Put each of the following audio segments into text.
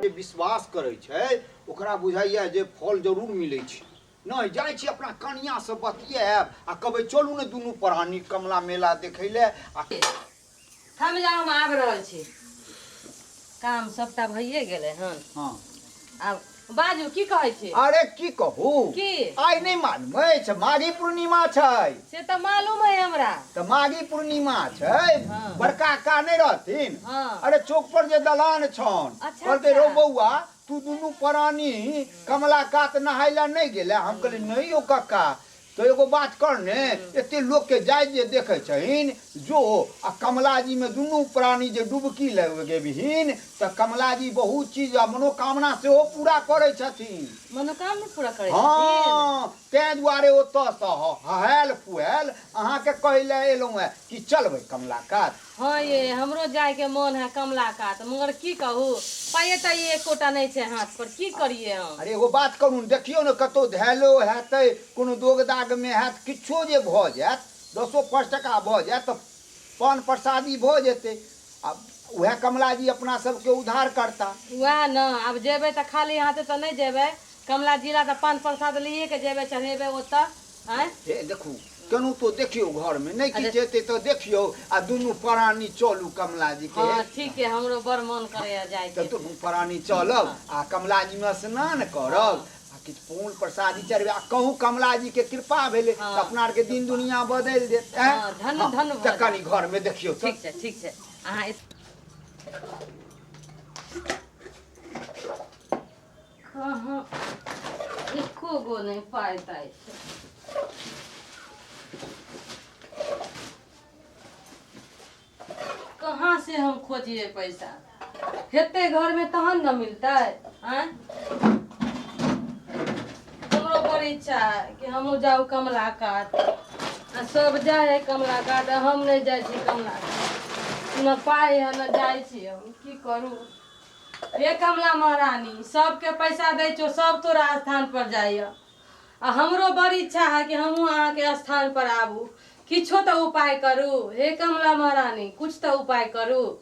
जे विश्वास करै छै ओकरा बुझाइए जे फल जरूर मिलै छै नहि जाइ छी अपना कनियासँ बतियाएब आ कहबै चलू ने दुनू परानी कमला मेला देखै लए आ हम जा हम आबि रहल छी काम सभटा भइए गेलै हन हँ आब बाजू की कहै छी अरे की कहू की? आइ नहि मालूम अछि माघी पूर्णिमा छै से तऽ मालूम है हमरा तऽ माघी पूर्णिमा छै हँ। बड़का का नहि रहथिन हँ। अरे चौक पर जे दलान छन अच्छा, कहलकै अच्छा। रौ बौआ तू दुनू प्राणी कमला कात नहाय लए नहि गेले हम कहलियै नहि यौ कक्का तँ एगो बात कर ने, एते लोककेँ जाइत जे देखै छहिन, जो आ कमलाजीमे दुनू प्राणी जे डुबकी लगेबहिन तँ कमलाजी बहुत चीज आ मनोकामना सेहो पूरा करै छथिन। मनोकामना पूरा करै छथिन? हँ, तँए दुआरे ओतएसँ हहएल-फुहएल अहाँकेँ कहैले एलौं हेँ कि चलबै कमलाकात। हँ ये हमरो जायके मोन है कमला कात मगर की कहू पाइए ताइए एकोटा नहि छै हाथ पर की करिए हम अरे एगो बात करू ने देखियौ ने कतहु धैलो हेतै कोनो दोग दागमे हैत किछो जे भऽ जायत दसो पाँच टाका भऽ जायत तऽ पान प्रसादी भऽ जेतै आ उएह कमलाजी अपना सभके उद्धार करता वएह ने आब जेबै तऽ खाली हाथे तऽ नहि जेबै कमला जिला तऽ पान प्रसाद लिए के जेबै चढ़ेबै ओतऽ आँय हे देखू केनू तो देखियो घर में नहीं किछ हेतै तो देखियो आ दुनू परानी चलू कमला जी के हाँ ठीक है हमरो बड़ मन करे है जाए तो दुनू परानी चलब आ कमला जी में स्नान करब आ किछ फूल प्रसादी चढ़बे आ कहू कमला जी के कृपा भेले हाँ। तो अपना आर के दिन दुनिया बदल देत हैं? हाँ, धन्य- हाँ, धन्य तो भऽ कनी घर में देखियो तो ठीक है ठीक है अहाँ इस- कहाँ एको गो नहि पाइ ताइ छै कहाँ से हम खोजिए पैसा हेतै घरमे तहन ने मिलतै आँय हमरो बड़ इच्छा है कि हमहूँ जाउ कमला कात आ सब जाइ है कमला कात आ हम नहि जाइ छी कमला कात न पाइ है न जाइ छी हम की करू ए कमला महारानी, सब के पैसा दै छो, सब तोरा स्थान पर जाय यऽ। आ हमरो बड़ इच्छा हऽ कि हमहूँ अहाँ के स्थान पर आबू। किछो तऽ उपाय करू। हे कमला महारानी, कुछ तऽ उपाय करू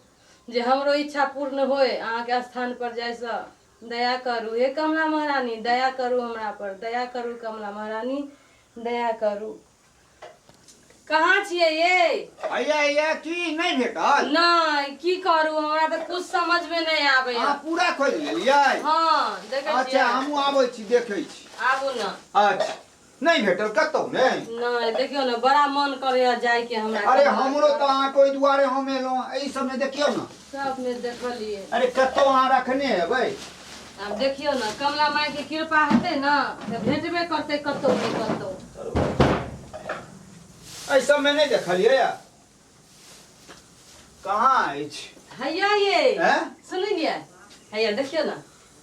जे हमरो इच्छा पूर्ण होय अहाँ के स्थान पर जाय सँ। दया करू, हे कमला महारानी, दया करू हमरा पर। दया करू कमला महारानी, दया करू। कहाँ छियै ये हैया हैया की नहि भेटल नहि की करू हमरा तऽ कुछ समझ में नहीं आबे अहाँ पूरा खोज लेलियै हाँ देखे अच्छा छियै हमहूँ आबै छी देखै छी आबू ना अच्छा नहि भेटल कतहु नहि नहीं देखियो ना बड़ा मन करे जाय के हमरा अरे कहाँ- हमरो तऽ अहाँके ओहि दुआरे हम एलहुँ एहि सबमे देखियौ ने सब में देखलिए अरे कतो अहाँ रखने हेबै अब देखियो ना कमला माई के कृपा हेते ना तो भेटबे करते कतो नहीं कतो एहि सबमे नहि देखलियै या कहाँ अछि हैया ये हैं? सुनिए हैया देखियो ना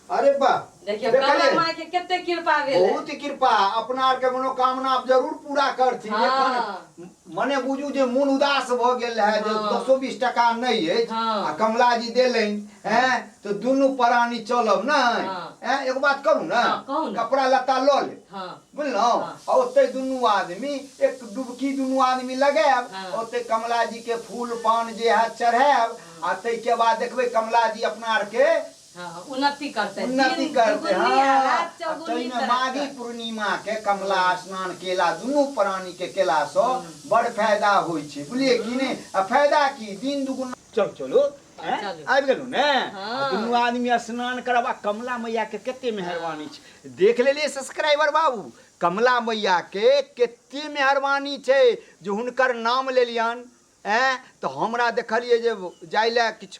अरे बा देखियो कमला देखलियै माई के कते कृपा भेल बहुत ही कृपा अपना आर के मनोकामना आप जरूर पूरा करथिन हाँ। एखन मने बुझू जे मोन उदास भ गेल है जे हाँ। दसो बीस टका नहीं है हाँ। आ कमला जी देलैन हैं तो दुनू प्राणी चलब न हाँ। हैं एगो बात करू न हाँ, कहू न। कपड़ा लत्ता ल ले हां बुझलहुँ हाँ। आ ओते दुनू आदमी एक डुबकी दुनू आदमी लगायब हाँ। ओते कमला जी के फूल पान जे है चढ़ायब आ ताहि के बाद देखबै कमला जी अपना आर के उन्नति करतै। उन्नति दिन करतै दुगुनी आ हँ। राति आ चौगुनी तइमे करत माघी करत। पूर्णिमाकेँ कमला स्नान केला दुनू प्राणीकेँ केलासँ बड़ फायदा होइ छै। बुलियै कि नै? आ फायदा की? दिन दुगुना। चलू चलू। हँ ऐं? चलू। आबि गेलहुँ ने? आ हँ। दुनू आदमी स्नान करब आ कमला मैयाकेँ केते मेहरबानी छै। देख लेलियै सब्सक्राइबर बाबू? कमला मैयाकेँ केते मेहरबानी छै जे हुनकर नाम लेलियनि। ऐं? तँ हमरा देखलियै जे जाइले किछु